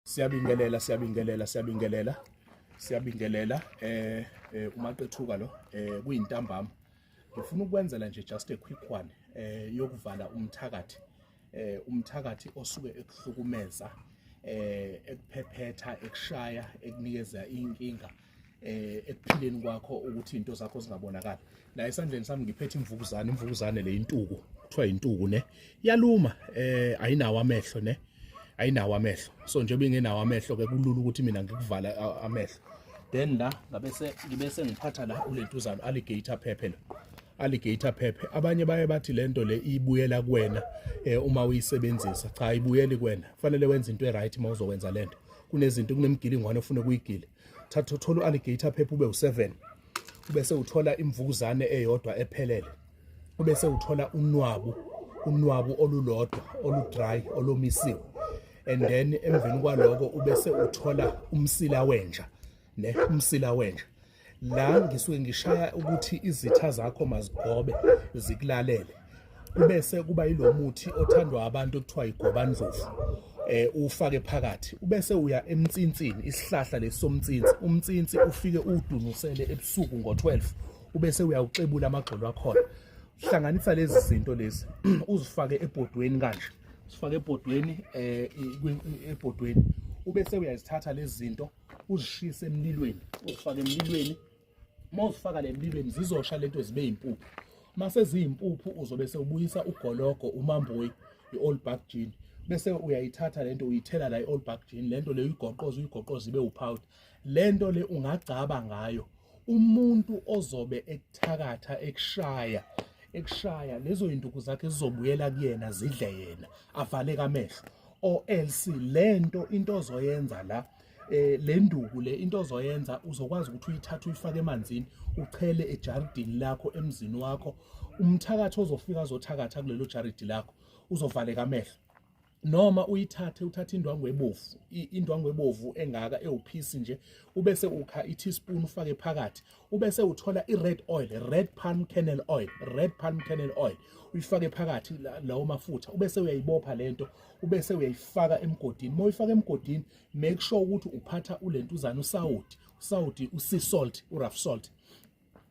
Siyabingelela, siyabingelela, siyabingelela. Siyabingelela eh, eh umaqethuka lo eh kuyintambama. Ngifuna ukwenzela nje just a quick one eh yokuvala umthakathi. Eh umthakathi osuke ekuhlukumeza eh ekuphephetha ekushaya ekunikeza inkinga eh ekuphileni kwakho ukuthi into zakho zingabonakala la esandleni sami ngiphethe imvukuzane imvukuzane le intuku kuthiwa intuku ne yaluma eh ayinawo amehlo ne ayinawo amehlo so nje bengenawo amehlo ke kulula ukuthi mina ngikuvala amehlo then la ngabe se ngibe sengiphatha la ulentuzana alligator phephe lo alligator phephe abanye baye bathi lento le ibuyela kuwena eh, uma uyisebenzisa cha ibuyeli kuwena kufanele wenze into eright uma uzokwenza lento kunezinto kunemgilingwane ofuna ukuyigile thatha uthola u-alligator phepha ube u-seven ubese uthola imvukuzane eyodwa ephelele ubese uthola unwabu unwabu olulodwa oludry olomisiwe and then emveni kwaloko ubese uthola umsila wenja ne umsila wenja la ngisuke ngishaya ukuthi izitha zakho mazigobe zikulalele kubese kuba yilomuthi othandwa abantu okuthiwa igobandlovu eh ufake phakathi ubese uya emtsinsini isihlahla lesomtsinsi umtsinsi ufike udunusele ebusuku ngo12 ubese uyawuxebula amagxolo akhona hlanganisa lezi zinto lezi uzifake ebhodweni kanje sifake ebhodweni eh ebhodweni ubese uyazithatha lezi zinto uzishise emlilweni uzifake emlilweni uma uzifaka le mlilweni zizosha lento zibe yimpuphu uma seziyimpuphu uzobe sewubuyisa ugologo umamboyi i-all back jean bese uyayithatha lento uyithela la i-all back jean lento le uyigoqoza uyigoqoza ibe upowder lento le ungagcaba ngayo umuntu ozobe ekuthakatha ekushaya ekushaya lezo zinduku zakhe zizobuyela kuyena zidle yena avaleke amehlo or else lento into ozoyenza la eh le nduku le into ozoyenza uzokwazi ukuthi uyithathe uyifake emanzini uchele ejaridini lakho emzini wakho umthakathi ozofika azothakatha kulelo jaridi lakho uzovaleka amehlo noma uyithathe uthathe indwangu ebovu indwangu ebovu engaka ewuphisi nje ubese ukha i-teaspoon ufake phakathi ubese uthola i-red oil red palm kernel oil red palm kernel oil uyifake phakathi lawo mafutha ubese uyayibopha lento ubese uyayifaka emgodini uma uyifaka emgodini make sure ukuthi uphatha ulentuzana usawoti usawoti usea salt urough salt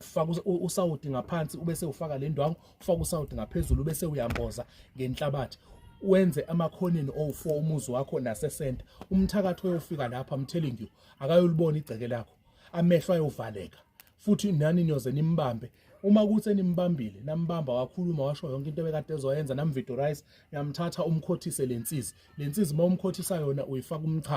faka usawoti ngaphansi ubese ufaka le ndwangu ufaka usawoti ngaphezulu ubese uyamboza ngenhlabathi wenze amakhoneni owu-four umuzi wakho nasesenta umthakathi oyofika lapha i'm telling you akayolibona igceke lakho amehlo ayovaleka futhi nani niyoze nimbambe uma kuthi enimbambile nambamba wakhuluma washo yonke into ebekade ezoyenza namvidorize yamthatha umkhothise lensizi lensizi uma umkhothisa yona uyifaka umchamo